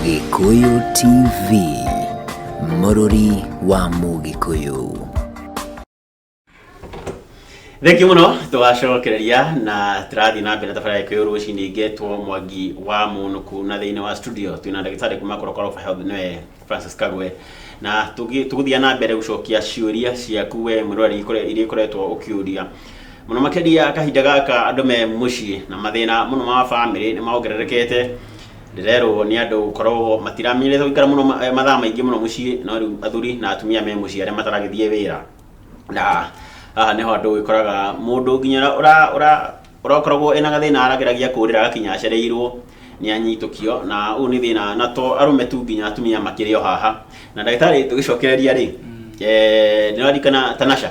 Gĩkũyũ TV, mũrũri wa Mũgĩkũyũ. Thenki mũno tũgacokereria na tũrathiĩ na mbere thabarĩ ya gĩkũyũ rũcinĩ ngetwo mwangi wa mũnũkũ na thĩinĩ wa studio twĩna ndagĩtarĩ kuma korokoroba health nĩwe francis kagwe na tũgĩ- tũgũthiĩ na mbere gũcokia ciũria ciaku we mwĩroreri ikore- iria ikoretwo ũkĩũria mũno makĩria kahinda gaka andũ me mũciĩ na mathĩna mũno ma bamĩrĩ nĩ maongererekete Ndĩrerwo nĩ andũ gũkorwo matiramenyerete gũikara mũno ma- eh, mathaa maingĩ mũno mũciĩ no rĩu athuri na atumia me mũciĩ arĩa mataragĩthiĩ wĩra na haha nĩho andũ ũgĩkoraga mũndũ nginya ũra- ũra- ũra- ũrakoragwo ena gathĩna arageragia kũrĩra agakinya acereirwo nĩ anyitũkio na ũyũ nĩ thĩna na to arũme tu nginya atumia makĩrĩ o haha na ndagĩtarĩ tũgĩcokereria rĩ eh, nĩũraririkana tanasha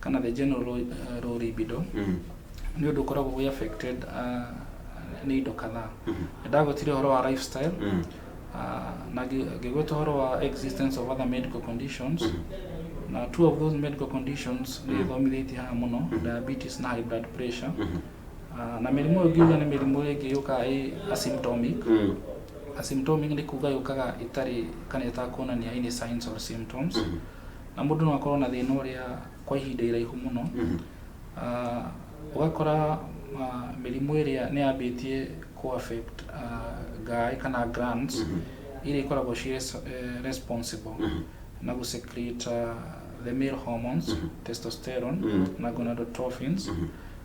kana the general low, uh, low libido Mm. nĩ ũndũ ũkoragwo wĩ affected uh, nĩ indo kadhaa Mhm. ndagwetire ũhoro wa lifestyle Mm. uh, na ngĩ- ngĩgweta ũhoro wa existence of other medical conditions Mhm. na two of those medical conditions nĩ ĩthomithĩtie haha mũno Mhm. diabetes na high blood pressure Mhm. uh, na mĩrimũ ĩyo ngiuga nĩ mĩrimũ ĩngĩ yũkaga ĩ asymptomic Mm. asymptomic nĩ kuga yũkaga ĩtarĩ kana ĩtakuonania any signs or symptoms Mhm. Na mũndũ no akorwo na thĩna ũrĩa kwa ihinda iraihu mũno, ah, ũgakora ah, mĩrimũ ĩrĩa nĩ yambĩtie kũ affect ah, ngaĩ kana glands iria ikoragwo ci res- eh, responsible na gũ secrete ah, the male hormones testosterone na gonadotrophins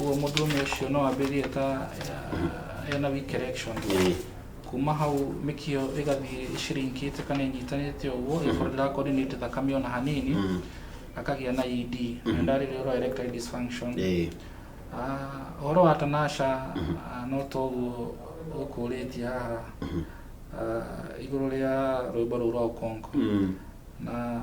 Ũguo mũndũrũme ũcio no ambĩrĩrie ta eh, ena weak erection Ĩĩ. kuma hau mĩkiyo ĩgathiĩ ĩcirinkĩte kana ĩnyitanĩte ũguo ĩkorwo ndĩrakoordinate thakame ona hanini Mm. akagĩa na ED na ndarĩrĩ ũrwa erectile dysfunction Ĩĩ. Ah, ũhoro wa tanasha ah, no to ũguo ũkũrĩtie haha Ah, igũrũ rĩa rwĩmbo rũu rwa ũkongo Mm. na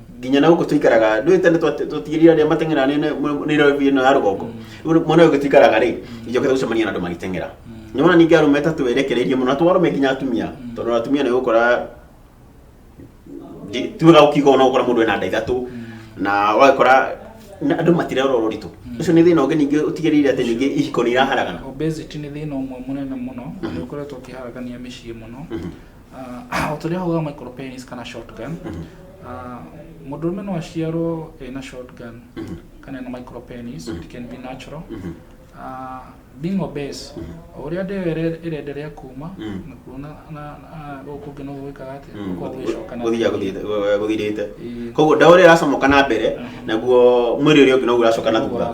nginya na gũkũ tũikaraga ndũĩ tene twa- twatigĩrire arĩa mateng'era nĩ- nĩ- nĩ rĩvi ĩno ya rũgongo Rĩu mwena ũyũ ũngĩ tũikaraga rĩ njokete gũcemania na andũ magĩteng'era nĩ wona ningĩ arũme ta twerekereirie mũno na twarũme nginya atumia tondũ atumia nĩ ũgũkora ndi- ti wega gũkiuga ona ũgũkora mũndũ ena nda ithatũ na wagĩkora na andũ matirerora ũritũ ũcio nĩ thĩna ũngĩ ningĩ ũtigĩrĩire atĩ ningĩ ihiko nĩ iraharagana obesity nĩ thĩna ũmwe mũnene mũno nĩ ũkoretwo ũkĩharagania mĩciĩ mũno Ah, o ta ũrĩa hauga micropen is kana shotgun mhm. ah, mũndũ ũrũme no aciarwo ena shotgun mhm. kana ena micropenis mhm. it can be natural ah, being obese o ũrĩa ndĩyo ĩrenderea kuma na kuona gũkũ kũngĩ noguo gwĩkaga atĩa gũthirĩte koguo ndawa ũrĩa ĩracomoka na mbere naguo mwĩrĩ ũrĩa ũngĩ noguo ũracoka na thutha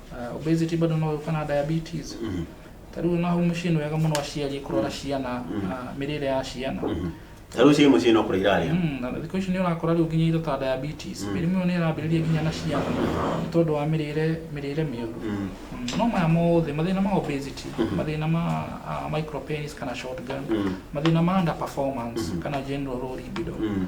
Uh, obesity bado no yukana na diabetes Mhm. ta riu naho mucii ni wega muno aciari kurora ciana uh, mirire ya ciana ta rĩu ciĩ mũciĩ no kũrĩa irarĩa Mm, na thikũ ici nĩ ũrakora rĩu nginya indo ta diabetes mĩrimũ ĩyo nĩ ĩrambĩrĩria nginya na ciana nĩ tondũ wa mĩrĩre mĩrĩre mĩũru Mm. Mm, no maya mothe mathĩna ma obesity mathĩna ma uh, micropenis kana shotgun Mm. mathĩna ma under performance kana general low libido Mm.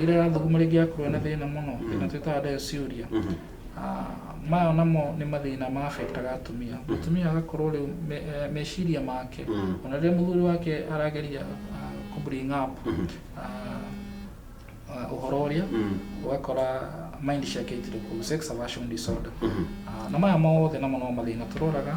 ĩrĩa ĩrathuguma rĩngĩ yakorwo na thĩna mũno ĩna twĩtaga dysuria Ah, maya namo nĩ mathĩna ma affectaga atumia mũtumia agakorwo rĩu me- eh, meciria make ona rĩrĩa mũthuri wake arageria ah, kũ bring up ah, ah, ũhoro ũrĩa ũgakora mind ciake itirĩ kũu sex aversion disorder Ah, na maya mothe namo no mathĩna tũroraga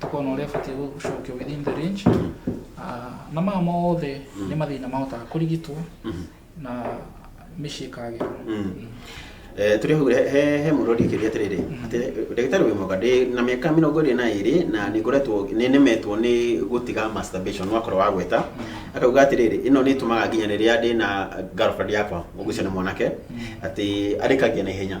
tũkorwo na ũrĩa batiĩ gũcokio within the range Ah, na maya mothe nĩ mathĩna mahotaga kũrigitwo na mĩciĩ ĩkagĩra Eh, tũrĩ hau he- he he mũndũ ũrĩkĩria atĩrĩrĩ atĩ ndagĩtarĩ wĩ mwega ndĩ na mĩaka mĩrongo ĩrĩ na ĩrĩ na nĩ ngoretwo nĩ nemetwo nĩ gũtiga masturbation wakorwo wa gweta akauga atĩrĩrĩ ĩno nĩ ĩtũmaga nginya rĩrĩa ndĩ na girlfriend yakwa ũgucio nĩ mwanake atĩ arĩkagia na ihenya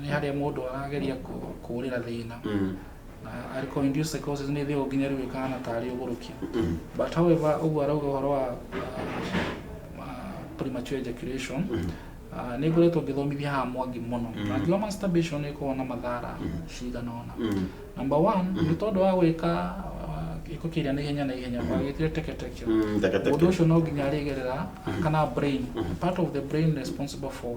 nĩ harĩa mũndũ arageria kũũrĩra thĩna mm. na arĩkorwo induced psychosis nĩ thĩo nginya rĩu ĩkahana tarĩ ũgũrũki mm. but however ũguo arauga ũhoro wa uh, premature ejaculation mm. uh, nĩ ngoretwo ngĩthomithia haha mwangi mũno na ngiwa masturbation nĩ ĩkoragwo na mathara cigana ona number one nĩ tondũ wa gwĩka gĩko kĩrĩa na ihenya na ihenya gwagĩtire mm. teketeke mm, ũndũ ũcio no nginya arĩgerera mm. kana brain part of the brain responsible for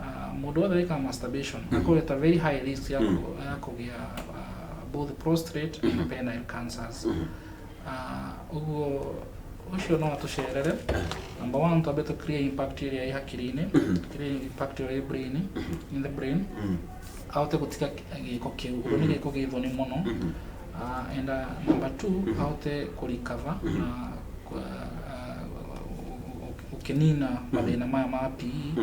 Ah, mũndũ wothe wĩkaga masturbation akorwo at a very high risk ya kũ- ya kũgĩa ah, both prostate and penile cancers Ah, ũguo ũcio no atũcerere number one twambe tũ clear impact ĩrĩa ĩ hakiri-inĩ clear impact ĩrĩa ĩ brain in the brain ahote gũtiga gĩko kĩu ũguo nĩ gĩko gĩ thoni mũno Ah, and ah, number two ahote kũrikava na kũ- ah, gũkĩnina mathĩna maya ma PE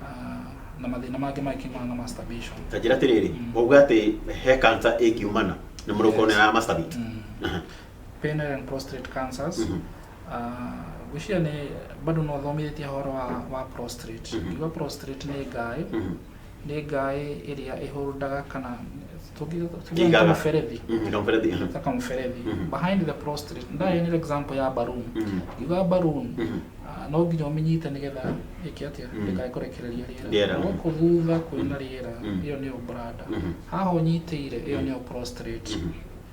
ah, na mathĩna mangĩ magĩkiumana na masturbation ta njĩra atĩrĩrĩ wauga atĩ he kansa ĩngiumana nĩ mũndũ ũkorwo nĩ ara masturbate Aha. penile and prostate cancers Mhm. Ah, gwĩciria nĩ bado no thomithĩtie horo wa, wa prostate Mhm. iwa prostate nĩ ngaĩ Mhm. nĩ ngaĩ ĩrĩa ĩhũrũndaga kana Igaga. mũberethi Mhm, kamũberethi mhm. ta kamũberethi Mhm. behind the prostate ndayo nĩ example ya balloon Mhm. yuga balloon Mhm. ah, no nginya ũmĩnyite nĩgetha ĩke atĩa Mhm. ndĩkae kũrekereria Rĩera. rĩera gũkũ thutha kwĩna rĩera Mhm. ĩyo nĩyo brada Mhm. haha ũnyitĩire ĩyo nĩyo prostate Mhm.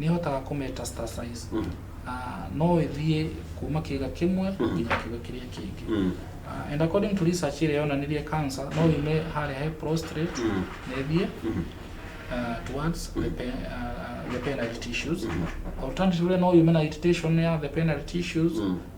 nĩ hotaga kũ metastasize Mm. na no ĩthiĩ kuma kĩga kĩmwe nginya kĩga kĩrĩa kĩngĩ Mm. Ah, and according to research ĩrĩa yonanirie cancer no yume harĩa he prostrate Mm. na ĩthiĩ Mhm. ah, towards the, pe, ah, the penile tissues alternatively no yume na irritation ya the penile tissues Mm.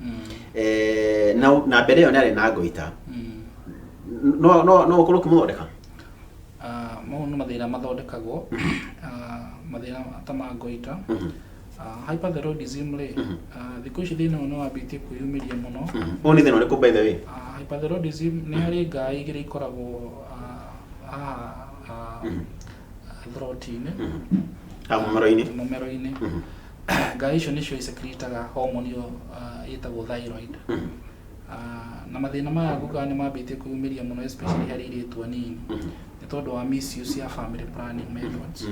Mm. eh, na na mbere ĩyo nĩ arĩ na ngoita Mm. no no no ũkorwo ũkĩmũthondeka Ah, mau nĩ mathĩna mathondekagwo Ah, mathĩna ta ma ngoita Mhm. Ah, hyperthyroidism rĩ Mhm. ah, thikũ ici thĩna ũyũ nĩ wambĩtie kwĩyumĩria mũno Mhm. ũyũ nĩ thĩna ũrĩkũ by the way Ah, hyperthyroidism nĩ harĩ ngaa igĩrĩ ikoragwo ah, haha ah, Mhm. throat-inĩ Ah, mũmero-inĩ mũmero-inĩ ngai icio nĩcio isekiritaga homoni ĩyo ah, ĩtagwo thyroid Ah, na mathĩna maya gukaga nĩ mambĩtie kũyumĩria mũno especially harĩ airĩtu anini nĩ tondũ wa misuse ya family planning methods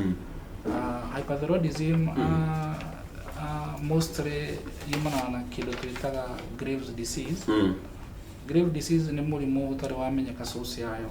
Ah, hyperthyroidism ah, ah, mostly yumanaga na kĩndũ twĩtaga Graves disease Grave disease nĩ mũrimũ ũtarĩ wamenyeka source yayo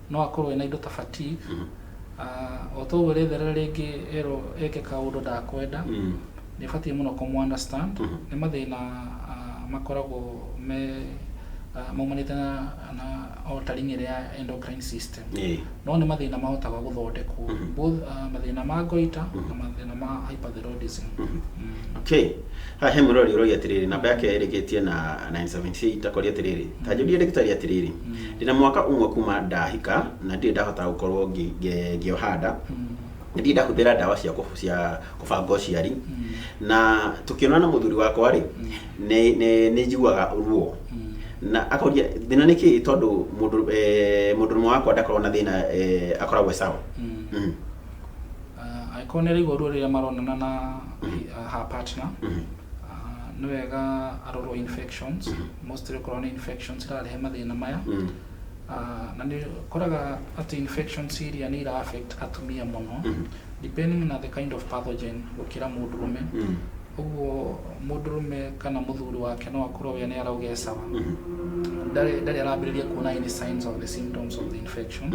no akorwo ena indo ta fatigue mm. uh, o toguo retherera rĩngĩ erwo eke kaũndũ ndakwenda mm. nĩ batiĩ mũno kũmũ understand mm -hmm. nĩ mathĩna uh, makoragwo me uh, maumanĩte na, na altering ĩrĩa endocrine system yeah. no nĩ mathĩna mahotaga gũthondekwo mm -hmm. both uh, mathĩna ma goita mm -hmm. na mathĩna ma hyperthyroidism mm -hmm. mm. okay Haha he mũrori ũroria atĩrĩrĩ, namba yake ĩrĩkĩtie na 978 akoria atĩrĩrĩ, ta njũrie ndagĩtarĩ atĩrĩrĩ, ndĩna mwaka ũmwe kuma ndahika na ndirĩ ndahota gũkorwo ngĩ- ngĩ- ngĩoha nda ndirĩ ndahũthĩra ndawa cia kũ- cia kũbanga ũciari na tũkĩonana na mũthuri wakwa rĩ nĩ- nĩ nĩ njiguaga ruo na akoria thĩna nĩ kĩĩ tondũ mũndũ eh, mũndũ ũmwe wakwa ndakoragwo na thĩna eh, akoragwo e sawa Mm. Uh, angĩkorwo nĩ araigua ruo rĩrĩa maronana na uh, her partner mm-hmm. uh, nĩ wega arorwo infections mm-hmm. mostly okorwo nĩ infections irarehe mathĩna maya mm-hmm. uh, na nĩ koraga atĩ infections iria nĩ ira affect atumia mũno depending na the kind of pathogen gũkĩra mũndũrũme ũguo mũndũrũme kana mũthuri wake no akorwo we nĩ araugecaga ndarĩ arambĩrĩria kuona any signs of the symptoms of the infection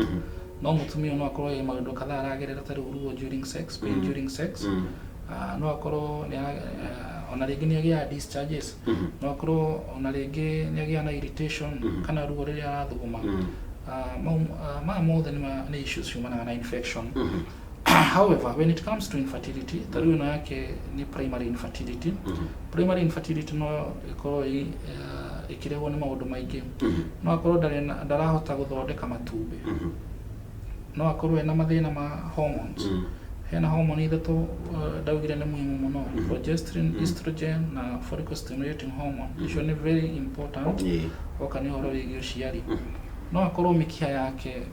no mũtumia no akorwo ĩ maũndũ kadhaa aragerera ta rĩu ruo during sex pain mm. during sex mm. uh, no akorwo nĩ uh, ona rĩngĩ nĩ agĩaga discharges mm -hmm. no akorwo ona rĩngĩ nĩ agĩaga na irritation mm -hmm. kana ruo rĩrĩa arathuguma mm -hmm. uh, ah, ma, uh, ah, ma mothe nĩ issues ciumanaga na infection mm -hmm. however when it comes to infertility ta rĩu ĩno yake nĩ primary infertility primary infertility no ĩkorwo ĩ- eh, ĩkĩrehwo nĩ maũndũ maingĩ no akorwo ndarĩ na- ndarahota gũthondeka matumbĩ no akorwo ena mathĩna ma hormones hena hormone ithatũ eh, ndaugire nĩ muhimu mũno progesterone estrogen na follicle stimulating hormone icio nĩ very important oka nĩ ũhoro wĩgiĩ ũciari no akorwo mĩkiha yake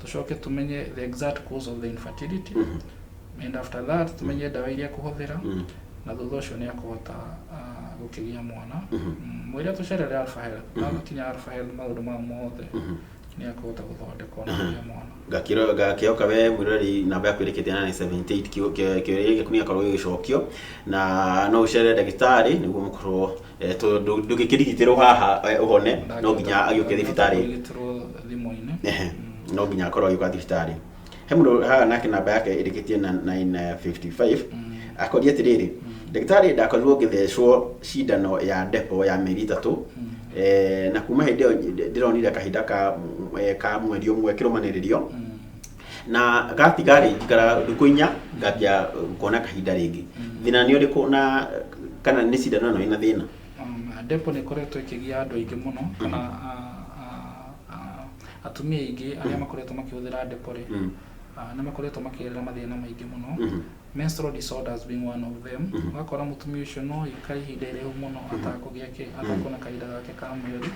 tũcoke tũmenye the exact cause of the infertility and after that tũmenye ndawa iria kũhũthĩra na thutha ũcio nĩ akũhota ah, gũkĩgĩa mwana Mm, mwĩre tũcerere alpha health na gũkinya alpha health maũndũ maya mothe nĩ akũhota gũthondekwo na kũgĩa mwana ngakĩro ngakĩoka we mwirori namba yaku ĩrĩkĩte na 78 kĩũria gĩaku nĩ gakorwo gĩgĩcokio na no ũcere ndagĩtarĩ nĩguo mũkorwo Eh, tondũ ndũ- ndũngĩkĩrigitĩrwo haha eh, ũhone no nginya agĩũke thibitarĩ Ũrigitĩrwo thimũ-inĩ. Ehe, Mm. no nginya akorwo agĩũka thibitarĩ he mũndũ haha nake namba yake ĩrĩkĩtie na 955 Mm. akoria atĩrĩrĩ ndagĩtarĩ ndakorirwo ngĩthecwo cindano ya depo ya mĩeri ĩtatũ Mm. eh, na kuma hĩndĩ ĩyo ndĩ- ndĩronire kahinda ka eh, ka mweri ũmwe kĩrũmanĩrĩrio Mm. na gatiga rĩ ngara thikũ inya ngambia kuona kahinda rĩngĩ thĩna nĩ ũrĩkũ na kana nĩ cindano ĩno ĩna thĩna Um, depo nä ĩkoretwo ĩkĩgia andå aingä må no kana a- a- a- atumia aingä arä a makoretwo makä hå thä ra depo rä Mm. nä makoretwo makä gerera mathä na maingä må no Mhm. menstrual disorders being one of them ũgakora mũtumia ũcio no ikare ihinda iraihu mũno atakũgĩa kĩ atakuona kahinda gake ka mweri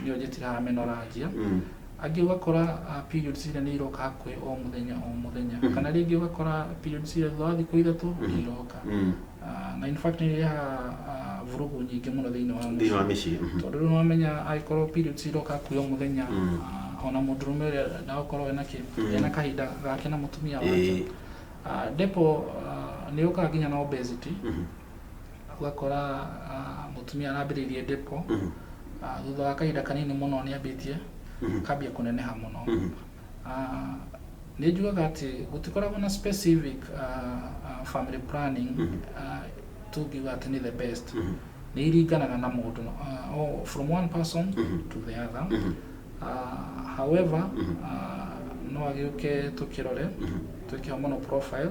nĩyo njĩtiraga menorrhagia Mm. angĩ ũgakora ah, periods iria nĩ iroka hakuhĩ o mũthenya o mũthenya Mhm. kana rĩngĩ ũgakora periods iria thutha wa thikũ ithatũ nĩ Mhm. iroka Mm. Ah, na in fact nĩ irehaga ah, vurugu nyingĩ mũno thĩinĩ wa thĩinĩ wa mũciĩ mĩciĩ Mhm. tondũ rĩu nĩwamenya angĩkorwo periods iroka hakuhĩ o mũthenya Mm. ah, ona mũndũrũme ũrĩa ndagũkorwo ena kĩ Mm. ena kahinda gake na mũtumia wake Ĩĩ. Ah, depo ah, nĩ yũkaga nginya na obesity Mhm. ũgakora mũtumia arambĩrĩirie depo thutha wa kahinda kanini mũno nĩ ambĩtie akambia kũneneha mũno nĩ njugaga atĩ gũtikoragwo na specific family planning tũngiuga atĩ nĩ the best nĩ iringanaga na mũndũ oh, from one person to the other uh, however uh, no agĩũke tũkĩrore twĩkĩho mũno profile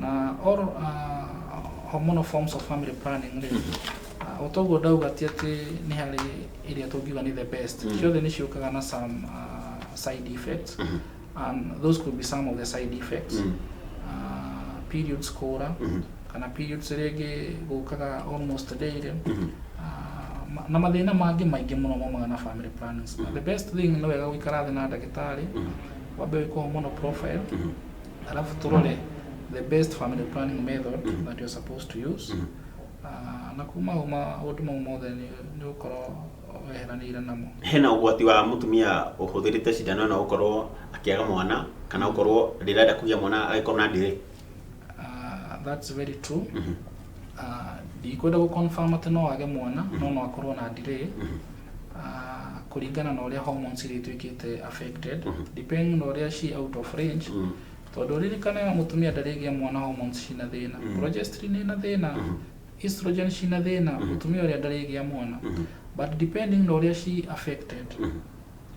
na or uh, hormonal forms of family planning rĩ uh, o toguo ndauga ti atĩ nĩ harĩ ĩrĩa tũngiuga nĩ the best Mm. ciothe nĩ ciũkaga na some uh, side effects Mhm. and those could be some of the side effects Mm. uh, periods kũra Mhm. kana periods rĩngĩ gũkaga almost daily Mhm. Ah, ma- na mathĩna mangĩ maingĩ mũno maumaga na family plannings the best thing nĩ wega gũikara thĩ na ndagĩtarĩ Mhm. wambe wĩkwo hormonal profile Mhm. alafu turole the best family planning method that you're supposed to use Ah, na kuma uma maũndũ mau mothe nĩ ũkorwo weheranĩire namo hena ũgwati wa mũtumia ũhũthĩrĩte cindano ĩno gũkorwo akĩaga mwana kana gũkorwo rĩrĩa enda kũgĩa mwana agĩkorwo na ndĩrĩ Ah, that's very true Ah, ndikwenda gũconfirm atĩ no age mwana no no akorwo na delay Ah, kũringana na ũrĩa hormones irĩtuĩkĩte affected depending na ũrĩa she out of range tondũ ririkane mũtumia ndarĩgĩa mwana hormones cina thĩna progesterone ina thĩna estrogen cina thĩna mũtumia ũrĩa ndarĩgĩa mwana but depending na ũrĩa she affected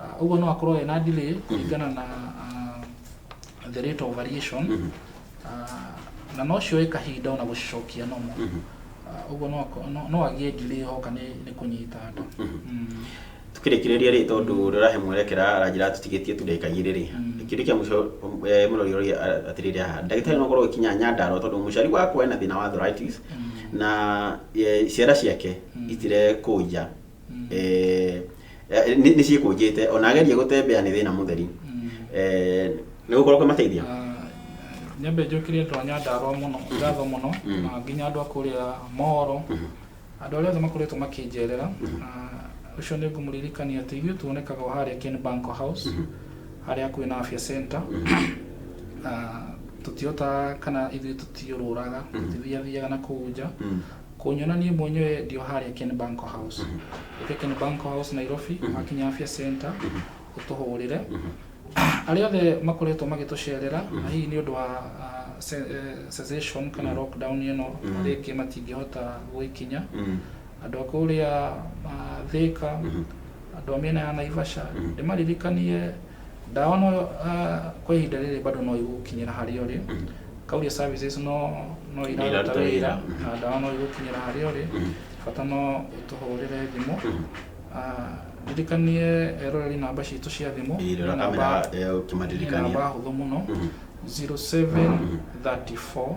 Ah, ũguo no akorwo ena delay kũringana na ah, the rate of variation Ah, na no cioe kahinda ona gũcicokia nomo Ah, ũguo no ako- no- no agĩe delay hoka nĩ nĩ kũnyita nda Mm. tukirikiriria ri tondu rirahe mwerekera aranjira tutigitie tu ndagika igiri ri Mm. kiri kia muco murori uri atiriri aha ndagitari no korwo ikinya nyandaro tondu muciari wakwa ena thina wa arthritis na eh, ciara ciake Mm. itire kuja eh, eh, nĩ nĩ ciĩkũnjĩte ona ageria gũtembea nĩ thĩna mũtheri Eh, nĩ gũkorwo kwĩmateithia nyambe njũkĩrie andũ a nyandarwa mũno ngatho mũno Mm. na nginya andũ a kũrĩa moro andũ arĩa othe makoretwo makĩnjerera Ah, ũcio nĩ ngũmũririkania atĩ ithuĩ tuonekaga o harĩa Ken Banko House harĩa kwĩ na afya center Ah, tũtihotaga kana ithuĩ tũtiũrũraga tũtithiathiaga na kũu nja Mm. Kũnyona niĩ mwenyewe ndĩo harĩa Ken Banko House. Ũke Ken Banko House Nairobi, wakinya Afya Center, ũtũhũrĩre. Arĩa othe makoretwo magĩtũcerera, na hihi nĩ ũndũ wa ah, ce- eh, cessation kana lockdown ĩno rĩngĩ matingĩhota gwĩkinya. Andũ a kũrĩa ah, Thĩka, andũ a mĩena ya Naivasha, ndĩmaririkanie Ndawa no kwa ihinda rĩrĩ bado no igũkinyĩra harĩa ũrĩ. Kauria services no no iraruta wĩra na ndawa no igũkinyĩra harĩa ũrĩ, bata no ũtũhũrĩre thimũ. Ndirikanie eroreri namba citũ cia thimũ nĩ namba nĩ namba hũthũ mũno 0734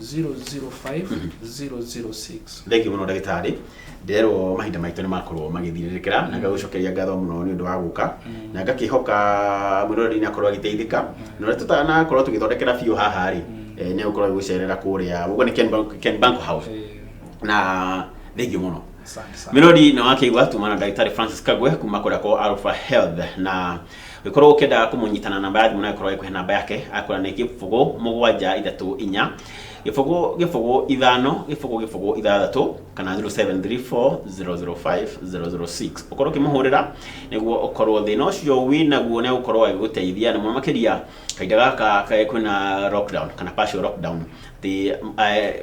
005006 thengio mũno ndagĩtarĩ nderwo mahinda maitũ nĩ makorwo magĩthirĩrĩkĩra na ngagũcokeria ngatho mũno nĩ ũndũ wa gũka na ngakĩhoka mwĩroreri nakorwo agĩteithĩka na ũrĩa tũtanakorwo tũgĩthondekera biũ haha rĩ eh, nĩ gũkorwo gĩgũcerera kũrĩa ũguo nĩ Ken Bank- Ken Bank House Eh, na thengio mũno asante sana. mĩrori na wakĩigua tumana ndagĩtarĩ francis kagwe kuma kũrĩa kwa alpha health na Ũngĩkorwo ũkĩenda kũmũnyita na namba ya thimũ no ĩkorwo ĩkũhe namba yake, akwĩra nĩ gĩbũgũ mũgwanja ithatũ inya, gĩbũgũ gĩbũgũ ithano, gĩbũgũ gĩbũgũ ithathatũ, kana 0734005006. Ũkorwo ũkĩmũhũrĩra nĩguo ũkorwo thĩna ũcio wĩ naguo nĩ egũkorwo agĩgũteithia, na mũno makĩria kahinda gaka kwĩna lockdown kana partial lockdown, atĩ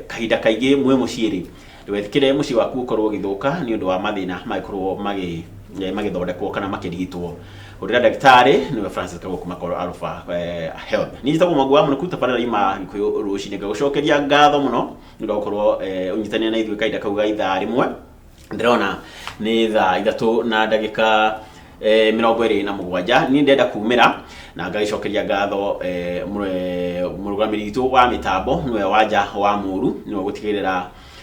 kahinda kaingĩ mwĩ mũciĩ rĩ, Ndũgetĩkĩre mũciĩ waku ũkorũo ũgĩthũka nĩ ũndũ wa mathĩna mangĩkorũo magĩ- eh, magĩthondekwo kana makĩrigitwo. Hũrĩra ndagĩtarĩ nĩwe Francis Kago kuma Call Alpha eh, Health. Niĩ njĩtagwo Mwangi wa Mũnũku tabarĩra ima Gĩkũyũ rũcinĩ. Ngagũcokeria ngatho mũno nĩ ũndũ wa gũkorũo eh, ũnyitanĩire na ithuĩ kahinda kau ga ithaa rĩmwe. Ndĩrona nĩ thaa ithatũ na ndagĩka eh, mĩrongo ĩrĩ na mũgwanja niĩ ndenda kumĩra na ngagĩcokeria ngatho eh, mũ- eh, mũrũgamĩrĩri witũ wa mĩtambo nĩwe wanja wa mũru nĩwe gũtigĩrĩra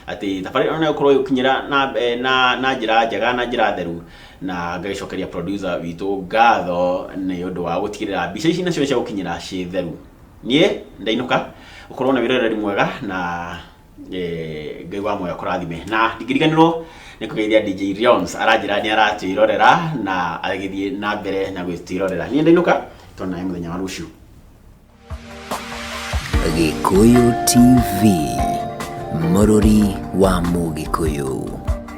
atĩ thabarĩ ĩno nĩgũkorwo ĩgĩkinyĩra na, eh, na, na njĩra njega na njĩra theru na ngagĩcokeria producer witũ ngatho nĩ ũndũ wa gũtigĩrĩra mbica ici nacio nĩ ciagũkinyĩra ciĩ theru niĩ ndainũka ũkorwo na wĩroreri mwega na Eh, ngai wa moyo kũrathime na ndingĩriganĩrwo nĩ kũgeithia dj rions aranjĩra nĩ aratwĩrorera na agĩthiĩ na mbere na gwĩtwĩrorera niĩ ndainũka tona mũthenya wa rũciũ Gĩkũyũ TV, mũrũri wa Mũgĩkũyũ.